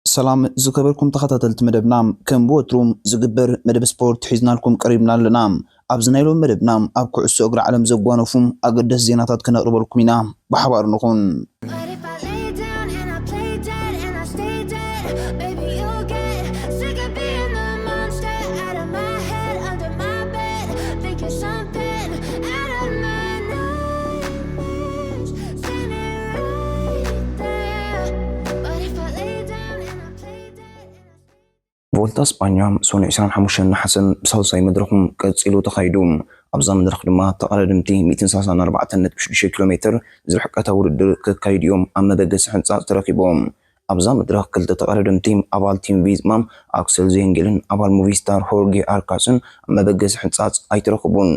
ሰላም ዝከበርኩም ተከታተልቲ መደብና ከም ብወትሩ ዝግበር መደብ ስፖርት ሒዝናልኩም ቀሪብና ኣለና ኣብዚ ናይ ሎሚ መደብና ኣብ ኩዕሶ እግሪ ዓለም ዘጓነፉ ኣገደስቲ ዜናታት ክነቅርበልኩም ኢና ብሓባር ንኩን ቮልታ ስጳኛ ሰኑ 25 ነሓሰ ብሳልሳይ መድረኹ ቀጺሉ ተኻይዱ። ኣብዛ መድረኽ ድማ ተቐዳደምቲ 164.6 ኪሎ ሜተር ዝርሕቀታ ውድድር ከካይዱ እዮም ኣብ መበገሲ ሕንጻጽ ተረኺቦም። ኣብዛ መድረኽ ክልተ ተቐዳደምቲ ኣባል ቲም ቪዝማ ኣክሰል ዜንጌልን ኣባል ሙቪስታር ሆርጌ ኣርካስን ኣብ መበገሲ ሕንጻጽ ኣይተረኽቡን።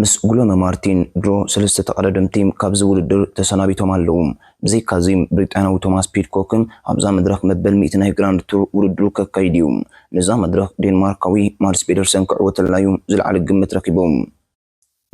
ምስ ጉሎነ ማርቲን ድሮ ሰለስተ ተቐዳደምቲ ካብዚ ውድድር ተሰናቢቶም ኣለዉ። ብዘይካዚ ብሪጣንያዊ ቶማስ ፒድኮክን ኣብዛ መድረኽ መበል ሚእቲ ናይ ግራንድ ቱር ውድድሩ ከካይድ'ዩ። ነዛ መድረኽ ዴንማርካዊ ማድስ ፔደርሰን ክዕወተላ'ዩ ዝለዓለ ግምት ረኺቡ።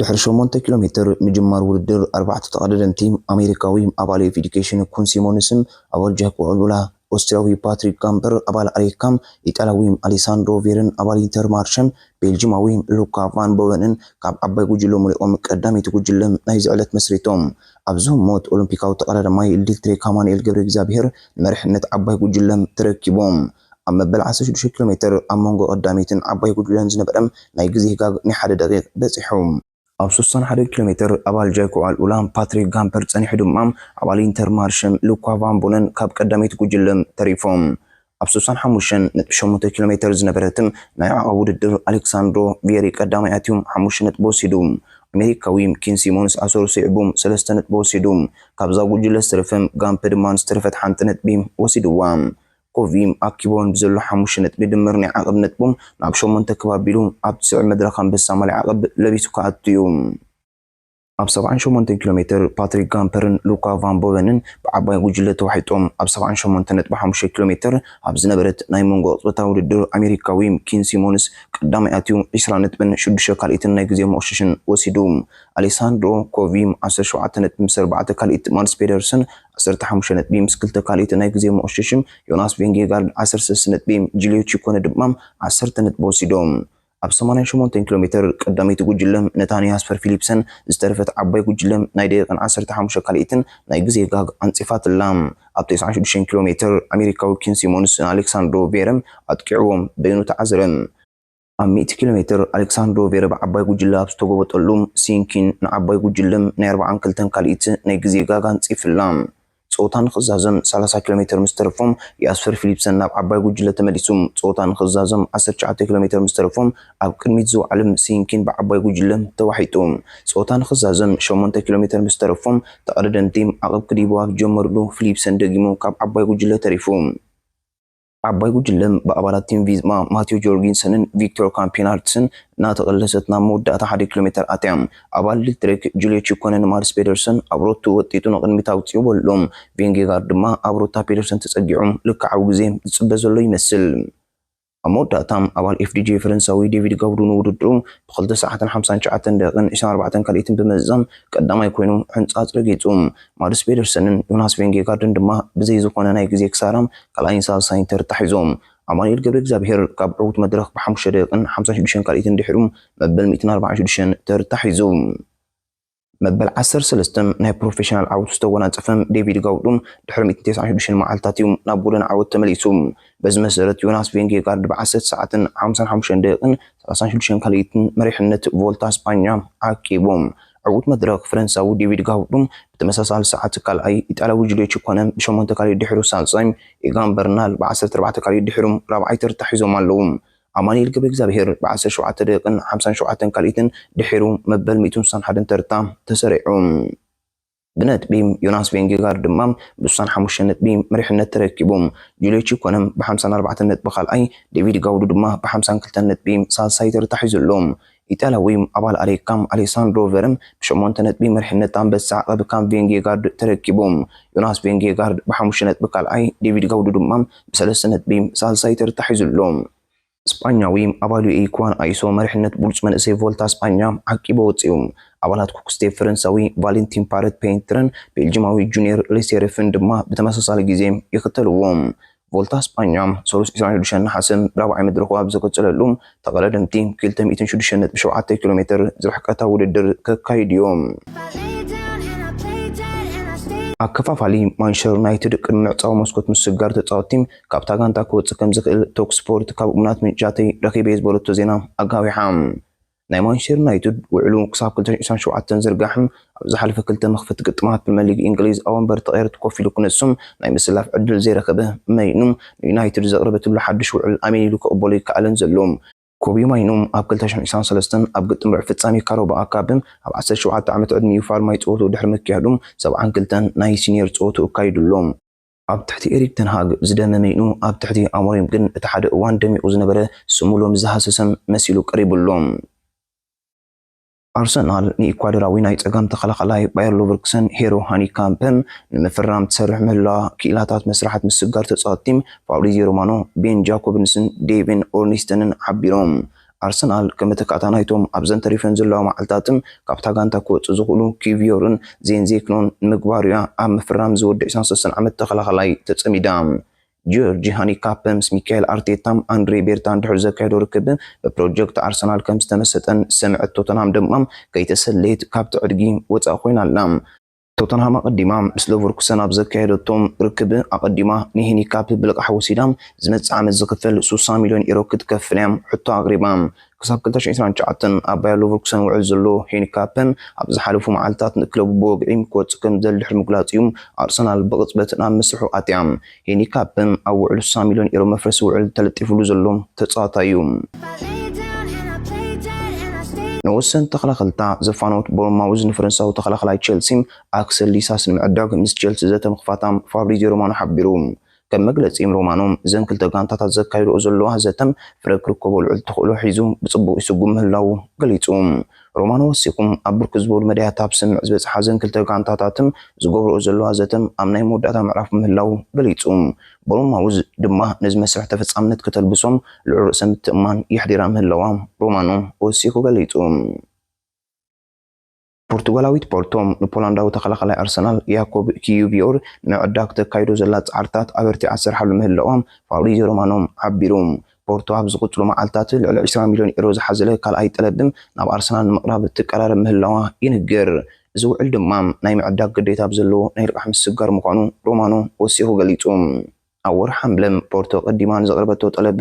ድሕሪ ሸሞንተ ኪሎ ሜትር ምጅማር ውድድር ኣርባዕተ ተቐዳደምቲ ኣሜሪካዊ ኣባል ኤፍ ኢዱኬሽን ኩን ሲሞንስን ኣባል ጃክ ኦልቡላ፣ ኦስትርያዊ ፓትሪክ ጋምፐር፣ ኣባል ኣሪካም፣ ኢጣልያዊ ኣሌሳንድሮ ቬርን ኣባል ኢንተርማርሸን ቤልጂማዊ ሉካ ቫን ቦቨንን ካብ ዓባይ ጉጅለ መሊቖም ቀዳመይቲ ጉጅለ ናይዚ ዕለት መስሪቶም። ኣብዚ ህሞት ኦሎምፒካዊ ተቐዳዳማይ ልዲልትሬክ ኣማኑኤል ገብረእግዚኣብሄር ንመሪሕነት ዓባይ ጉጅለ ተረኪቦም። ኣብ መበል ዓሰርተ ሽዱሽተ ኪሎሜተር ኣብ መንጎ ቀዳመይትን ዓባይ ጉጅለን ዝነበረ ናይ ግዜ ጋግ ናይ ሓደ ደቒቕ በጺሑ። ኣብ ሰሱን ሓደን ኪሎ ሜተር ኣባል ጃይኩዓል ኡላም ፓትሪክ ጋምፐር ጸኒሑ ድማ ኣባል ኢንተር ማርሸም ሉኳ ቫን ቡነን ካብ ቀዳመይቲ ጉጅለ ተሪፎም። ኣብ ሰሱን ሓሙሽተን ነጥቢ ሸሞንተ ኪሎ ሜተር ዝነበረት ናይ ዓቐብ ውድድር ኣሌክሳንድሮ ቪየሪ ቀዳማይ ኣትዩ ሓሙሽተ ነጥቢ ወሲዱ። ኣሜሪካዊ ኪን ሲሞንስ ኣሰሩ ስዒቡ ሰለስተ ነጥቢ ወሲዱ። ካብዛ ጉጅለ ዝተረፈ ጋምፐ ድማ ንዝተረፈት ሓንቲ ነጥቢ ወሲድዋ። ኮቪም ኣኪቦን ብዘሎ ሓሙሽተ ነጥቢ ድምር ናይ ዓቐብ ነጥቦም ናብ ሸሞንተ ክብ ኣቢሉ ኣብ ዝስዕብ መድረኽ ኣንበሳ ማልያ ዓቐብ ለቢሱ ክኣቱ እዩ። ኣብ ሰብዓን ሸሞንተን ኪሎ ሜትር ፓትሪክ ጋምፐርን ሉካ ቫን ቦቨንን ብዓባይ ጉጅለ ተዋሒጦም ኣብ ሰብዓን ሸሞንተን ነጥቢ ሓሙሽተ ኪሎ ሜትር ኣብ ዝነበረት ናይ መንጎ ቅጽበታዊ ውድድር ኣሜሪካዊ ኪን ሲሞንስ ቀዳማይ ኣትዩ ዕስራ ነጥብን ሽዱሽተ ካልኢትን ናይ ግዜ መቕሸሽን ወሲዱ ኣሌሳንድሮ ኮቪም ዓሰርተ ሸውዓተ ነጥቢ ምስ ኣርባዕተ ካልኢት ማድስ ፔደርሰን ዓሰርተ ሓሙሽተ ነጥቢ ምስ ክልተ ካልኢት ናይ ግዜ መቑሸሽም ዮናስ ቬንጌጋርድ ዓሰርተ ሰለስተ ነጥቢ፣ ጂልዮ ቺኮነ ድማ ዓሰርተ ነጥቢ ወሲዶም። ኣብ ሰማንያን ሸሞንተን ኪሎ ሜተር ቀዳመይቲ ጉጅለ ነታ ንያስፐር ፊሊፕሰን ዝተረፈት ዓባይ ጉጅለ ናይ ደቂቕን ዓሰርተ ሓሙሽተ ካልኢትን ናይ ግዜ ጋግ ኣንጺፋትላ። ኣብ ተስዓን ሽዱሽተን ኪሎ ሜተር ኣሜሪካዊ ኪን ሲሞንስ ንኣሌክሳንድሮ ቬረም ኣጥቂዕዎ በይኑ ተዓዝረ። ኣብ ሚእቲ ኪሎ ሜትር ኣሌክሳንድሮ ቬረቭ ዓባይ ጉጅለ ኣብ ዝተጎበጠሉ፣ ሲንኪን ንዓባይ ጉጅለ ናይ ኣርብዓን ክልተን ካልኢት ናይ ግዜ ጋግ ኣንጺፍላ። ጸወታ ንኽዛዘም ሰላሳ ኪሎ ሜትር ምስ ተረፎም፣ ያስፐር ፊሊፕሰን ናብ ዓባይ ጉጅለ ተመሊሱ። ጸወታ ንኽዛዘም ዓሰርተ ትሽዓተ ኪሎ ሜትር ምስ ተረፎም፣ ኣብ ቅድሚት ዝወዓለ ሲንኪን ብዓባይ ጉጅለ ተዋሒጡ። ጸወታ ንኽዛዘም ሸሞንተ ኪሎ ሜትር ምስ ተረፎም፣ ተቐዳደምቲ ዓቕብ ክድይቡ ኣብ ዝጀመሩሉ፣ ፊሊፕሰን ደጊሙ ካብ ዓባይ ጉጅለ ተሪፉ። ዓባይ ጉጅለ ብኣባላት ቲም ቪዝማ ማቲዮ ጆርጊንሰንን ቪክቶር ካምፒናርትስን እናተቐለሰት ናብ መወዳእታ ሓደ ኪሎ ሜተር ኣትያ። ኣባል ሊትትሬክ ጁልዮ ቺኮነን ማርስ ፔደርሰን ኣብ ሮቶ ወጢጡ ንቕድሚት ኣውጺኡ በሎ። ቪንጌጋርድ ድማ ኣብ ሩታ ፔደርሰን ተጸጊዑ ልክዓዊ ግዜ ዝጽበ ዘሎ ይመስል። ኣብ መወዳእታ ኣባል ኤፍዲጄ ፈረንሳዊ ዴቪድ ጋውዱ ንውድድሩ ብክልተ ሰዓትን ሓምሳን ትሽዓተን ደቂቕን ዕስራን ኣርባዕተን ካልኢትን ብምዝዛም ቀዳማይ ኮይኑ ሕንጻጽ ረጊጹ። ማርስ ፔደርሰንን ዮናስ ቪንጌጋርድን ድማ ብዘይ ዝኾነ ናይ ግዜ ክሳራ ካልኣይን ሳልሳይን ተርታ ሒዞም ኣማኑኤል ገብረእግዚኣብሄር ካብ ዕዉት መድረኽ ብሓሙሽተ ደቂቕን ሓምሳን ሽዱሽተን ካልኢትን ድሒሩ መበል ሚእትን ኣርባዓን ሽዱሽተን ተርታ ሒዙ። መበል ዓሰርተ ሰለስተ ናይ ፕሮፌሽናል ዓወቱ ዝተጎናጸፈ ዴቪድ ጋውዱ ድሕሪ ሚእትን ተስዓን ሽዱሽተን መዓልታት እዩ ናብ ጎደና ዓወት ተመሊሱ። በዚ መሰረት ዮናስ ቬንጌጋርድ ብዓሰርተ ሰዓትን ሓምሳን ሓሙሽተን ደቂቕን ሰላሳን ሽዱሽተን ካልኢትን መሪሕነት ቮልታ ስጳኛ ኣኪቡ። ዕውት መድረኽ ፈረንሳዊ ዴቪድ ጋውዱም ብተመሳሳሊ ሰዓት ካልኣይ፣ ኢጣልያዊ ጁልዮ ቺኮነ ብሸሞንተ ካልኢት ድሒሩ ሳልሳይ፣ ኢጋን በርናል ብዓሰርተ ኣርባዕተ ካልኢት ድሒሩ ራብዓይ ተርታ ሒዞም ኣለዉ። ኣማኒኤል ገብረእግዚኣብሄር ብዓሰርተ ሸውዓተ ደቂቕን ሓምሳን ሸውዓተን ካልኢትን ድሒሩ መበል ሚእትን ስሳን ሓደን ተርታ ተሰሪዑ። ብነጥቢ ዮናስ ቬንጌጋርድ ድማ ብስሳን ሓሙሽተ ነጥቢ መሪሕነት ተረኪቡ። ጁልዮ ቺኮነም ብሓምሳን ኣርባዕተን ነጥቢ ካልኣይ፣ ዴቪድ ጋውዱ ድማ ብሓምሳን ክልተን ነጥቢ ሳልሳይ ተርታ ሒዙ ኣሎ። ኢጣልያዊ ኣባል ኣሌካም ኣሌሳንድሮ ቨርም ብሸሞንተ ነጥቢ መሪሕነት ኣንበሳ ዓቐብ ካብ ቬንጌጋርድ ተረኪቡ። ዮናስ ቬንጌጋርድ ብሓሙሽተ ነጥቢ ካልኣይ፣ ዴቪድ ጋውዱ ድማ ብሰለስተ ነጥቢ ሳልሳይ ተርታ ሒዙ ኣሎ። ስጳኛዊ ኣቫሉኤይ ኩዋን ኣይሶ መሪሕነት ብሉጽ መንእሰይ ቮልታ ስጳኛ ዓቂቡ ኣወጺኡ። ኣባላት ኩክስቴፕ ፈረንሳዊ ቫለንቲን ፓረት ፔንትርን ቤልጂማዊ ጁንየር ሌሴርፍን ድማ ብተመሳሳሊ ግዜ ይኽተልዎ። ቮልታ ስጳኛ ሰሉስ ዕስራን ሸዱሸን ነሓሰ ራብዓይ መድረኹ ኣብ ዝቕጽለሉ፣ ተቐዳደምቲ ክልተ ሚእትን ሸዱሸን ነጥቢ ሸውዓተ ኪሎ ሜተር ዝርሕቀታ ውድድር ከካይዱ'ዮም። ኣከፋፋሊ ማንቸስተር ዩናይትድ ቅድሚ ምዕጻው መስኮት ምስጋር ተጻወትቲ ካብታ ጋንታ ክወጽእ ከምዝኽእል ቶክ ስፖርት ካብ እሙናት ምንጭታተይ ረኺበ'የ ዝበለቶ ዜና ኣጋዊሓ። ናይ ማንቸስተር ዩናይትድ ውዕሉ ክሳብ ክልተ ሽሕን ዒስራን ሸውዓተን ዝርጋሕ ኣብ ዝሓለፈ ክልተ መኽፈቲ ግጥማት ፕሪመር ሊግ እንግሊዝ ኣብ ወንበር ተቐየርቲ ኮፍ ኢሉ ክነሱ ናይ ምስላፍ ዕድል ዘይረኸበ ማይኑ ንዩናይትድ ዘቕረበትሉ ሓድሽ ውዕል ኣሜን ኢሉ ክቕበሎ ኣይከኣለን ዘሎ። ኮቢ ማይኑ ኣብ ክልተ ሽሕን ዒስራን ሰለስተን ኣብ ግጥም ርብዒ ፍጻሜ ካራባኦ ካፕ ኣብ ዓሰርተ ሸውዓተ ዓመት ዕድሚኡ ፋልማይ ጸወትኡ ድሕሪ ምክያዱ ሰብዓን ክልተን ናይ ሲንየር ጸወትኡ ኣካይዱ ኣሎ። ኣብ ትሕቲ ኤሪክ ተን ሃግ ዝደመመ ዩ፣ ኣብ ትሕቲ ኣሞሪም ግን እቲ ሓደ እዋን ደሚቑ ዝነበረ ስሙ ሎሚ ዝሃሰሰ መሲሉ ቀሪቡ ኣሎ። ኣርሰናል ንኢኳዶራዊ ናይ ጸጋም ተኸላኻላይ ባየር ሎቨርኩሰን ሄሮ ሃኒካምፐ ንምፍራም ትሰርሕ ምህላዋ ክኢላታት መስርሓት ምስግጋር ተጻወትቲ ፋብሪዝዮ ሮማኖ፣ ቤን ጃኮብንስን ዴቪን ኦርንስትንን ሓቢሮም። ኣርሰናል ከመተካእታ ናይቶም ኣብዘን ተሪፈን ዘለዋ መዓልታትም ካብታ ጋንታ ክወጹ ዝኽእሉ ኪቪዮርን ዜንዜክኖን ንምግባር'ያ ኣብ ምፍራም እዚ ወዲ ዕስራን ሰለስተን ዓመት ተኸላኻላይ ተጸሚዳ። ጂዮርጂ ሃኒካፕ ምስ ሚካኤል ኣርቴታን ኣንድሬ ቤርታን ድሕሪ ዘካየዶ ርክብ ብፕሮጀክት ኣርሰናል ከምዝተመሰጠን ሰምዐት ቶተንሃም ደማ ከይተሰለየት ካብቲ ዕድጊ ወጻእ ኮይና ኣላ። ቶተንሃም ኣቐዲማ ምስ ለቨርኩሰን ኣብ ዘካየደቶ ርክብ ኣቐዲማ ንሄኒ ካፕ ብልቓሕ ወሲዳ ዝመጽእ ዓመት ዝኽፈል ስሳ ሚልዮን ዩሮ ክትከፍል እያ ሕቶ ኣቕሪባ። ክሳብ ክልተ ሽሕን ዕስራን ትሽዓተን ኣብ ባየር ሎቨርኩሰን ውዕል ዘሎ ሄኒ ካፕ ኣብ ዝሓለፉ መዓልታት ንክለቡ ብወግዒ ክወጽእ ከምዝደሊ ድሕሪ ምግላጹ'ዩ ኣርሰናል ብቕጽበት ናብ መስርሑ ኣትያ። ሄኒ ካብም ኣብ ውዕሉ ሳሚሎን ኢሮ መፍረሲ ውዕል ተለጢፍሉ ዘሎ ተጻዋታይ እዩ። ንወሰን ተኸላኸልታ ዘፋነወት ቦርንማውዝ ንፈረንሳዊ ተኸላኸላይ ቼልሲ ኣክሰል ዲሳስ ንምዕዳግ ምስ ቼልሲ ዘተ ምኽፋታ ፋብሪዝዮ ሮማኖ ሓቢሩ። ከም መግለጺ ሮማኖ፣ እዘን ክልተ ጋንታታት ዘካይድኦ ዘለዋ ዘተ ፍረ ክርከቦ ልዑል ተኽእሎ ሒዙ ብጽቡቕ ይስጉም ምህላዉ ገሊጹ። ሮማኖ ወሲኹም፣ ኣብ ብርክት ዝበሉ መዳያት ኣብ ስምምዕ ዝበጽሓ እዘን ክልተ ጋንታታትን ዝገብርኦ ዘለዋ ዘተ ኣብ ናይ መወዳእታ ምዕራፍ ምህላዉ ገሊጹ። ቦርንማውዝ ድማ ነዚ መስርሕ ተፈጻምነት ክተልብሶም ልዑል ርእሰ ምትእምማን የሕዲራ ምህላዋ ሮማኖ ወሲኹ ገሊጹ። ፖርቱጋላዊት ፖርቶ ንፖላንዳዊ ተኸላኻላይ ኣርሰናል ያኮብ ኪዩቪዮር ንምዕዳግ ተካይዶ ዘላ ጻዕርታት ኣበርቲዓ ትሰርሓሉ ምህላዋ ፋብሪዝዮ ሮማኖ ሓቢሩ። ፖርቶ ኣብ ዝቕፅሉ መዓልታት ልዕሊ ዕስራ ሚልዮን ዩሮ ዝሓዘለ ካልኣይ ጠለብ ናብ ኣርሰናል ንምቕራብ ትቀራረብ ምህላዋ ይንገር። እዚ ውዕል ድማ ናይ ምዕዳግ ግዴታ ኣብ ዘለዎ ናይ ልቓሕ ምስግጋር ምዃኑ ሮማኖ ወሲኹ ገሊፁ። ኣብ ወርሒ ሓምለ ፖርቶ ቀዲማ ንዘቕረበቶ ጠለብ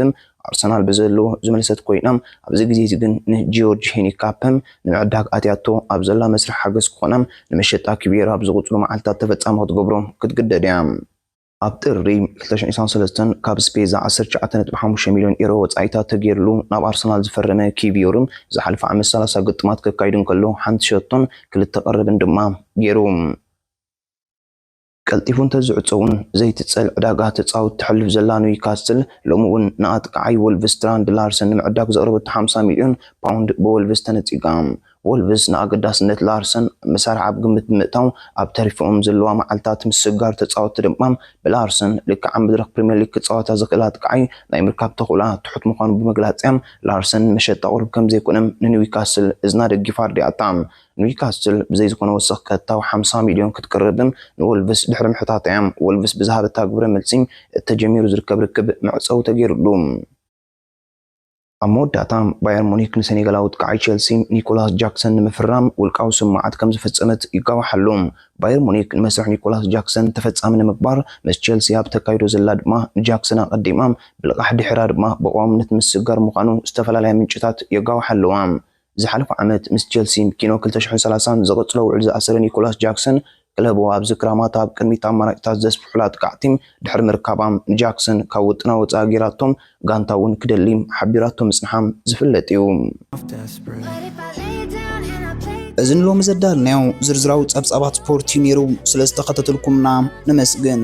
ኣርሰናል ብዘለዎ ዝመለሰት ኮይና ኣብዚ ግዜ እዚ ግን ንጂዮርጅ ሂኒካፐ ንምዕዳግ ኣትያቶ ኣብ ዘላ መስርሕ ሓገዝ ክኾና ንመሸጣ ኪቤራ ኣብ ዝቕፅሉ መዓልታት ተፈፃሚ ክትገብሮ ክትግደድ እያ። ኣብ ጥሪ ክልተ ሽሕን ዒስራን ሰለስተን ካብ ስፔዛ ዓሰርተ ትሽዓተ ነጥቢ ሓሙሽተ ሚልዮን ዩሮ ወጻኢታት ተገይርሉ ናብ ኣርሰናል ዝፈረመ ኪቪዮር፣ ዝሓለፈ ዓመት ሰላሳ ግጥማት ከካይድ እንከሎ ሓንቲ ሸቶን ክልተ ቀረብን ድማ ገይሩ። ቀልጢፉ እንተዝዕጾ'ውን ዘይትጸል ዕዳጋ ተጻወቲ ተሕልፍ ዘላ ኒውካስትል፣ ሎሚ'ውን ንኣጥቃዓይ ወልቭስ ትራንድ ላርሰን ንምዕዳግ ዘቕረበቶ ሓምሳ ሚልዮን ፓውንድ ብወልቭስ ተነጺጋ። ወልቭስ ንኣገዳስነት ላርሰን ምሳርዕ ኣብ ግምት ብምእታው ኣብ ተሪፎኦም ዘለዋ መዓልታት ምስግጋር ተጻወትቲ ድማ ብላርሰን ልክዕ ኣብ መድረኽ ፕሪምየር ሊግ ክጻወታ ዝኽእላ ኣጥቃዓይ ናይ ምርካብ ተኽእሎኣ ትሑት ምዃኑ ብምግላጽ'ያ ላርሰን መሸጣ ቁሩብ ከምዘይኮነ ንኒውካስል እዝና ደጊፋ ኣርዲኣታ። ኒውካስል ብዘይ ዝኾነ ወሰኽ ቀጥታዊ ሓምሳ ሚልዮን ክትቅርብ ንወልቭስ ድሕሪ ምሕታታ'ያ ወልቭስ ብዝሃበታ ግብረ መልሲ እቲ ተጀሚሩ ዝርከብ ርክብ መዕጸዊ ተገይሩሉ። ኣብ መወዳእታ፣ ባየር ሙኒክ ንሰኔጋላዊ ኣጥቃዓይ ቸልሲ ኒኮላስ ጃክሰን ንምፍራም ውልቃዊ ስምምዓት ከም ዝፈጸመት ይጋዋሕ ኣሎ። ባየር ሙኒክ ንመስርሕ ኒኮላስ ጃክሰን ተፈጻሚ ንምግባር ምስ ቸልሲ ኣብ እተካይዶ ዘላ ድማ ንጃክሰን ኣቐዲማ ብልቓሕ ድሒራ ድማ ብቐዋምነት ምስግጋር ምዃኑ ዝተፈላለያ ምንጭታት የጋውሓ ኣለዋ። ዝሓለፈ ዓመት ምስ ቸልሲን ኪኖ ክልተ ሽሕን ሰላሳን ዘቐጽሎ ውዕል ዝኣሰረ ኒኮላስ ጃክሰን፣ ክለቡ ኣብዚ ክራማት ኣብ ቅድሚት ኣማራጺታት ዘስፍሑላ ጥቃዕ ቲም ድሕሪ ምርካባ፣ ንጃክሰን ካብ ውጥና ወጻኢ ገይራቶ ጋንታ'ውን ክደሊ ሓቢራቶ ምጽንሓ ዝፍለጥ'ዩ። እዚ ንሎሚ ዘዳለናዮ ዝርዝራዊ ጸብጻባት ስፖርት'ዩ ነይሩ፣ ስለ ዝተኸታተልኩምና ነመስግን።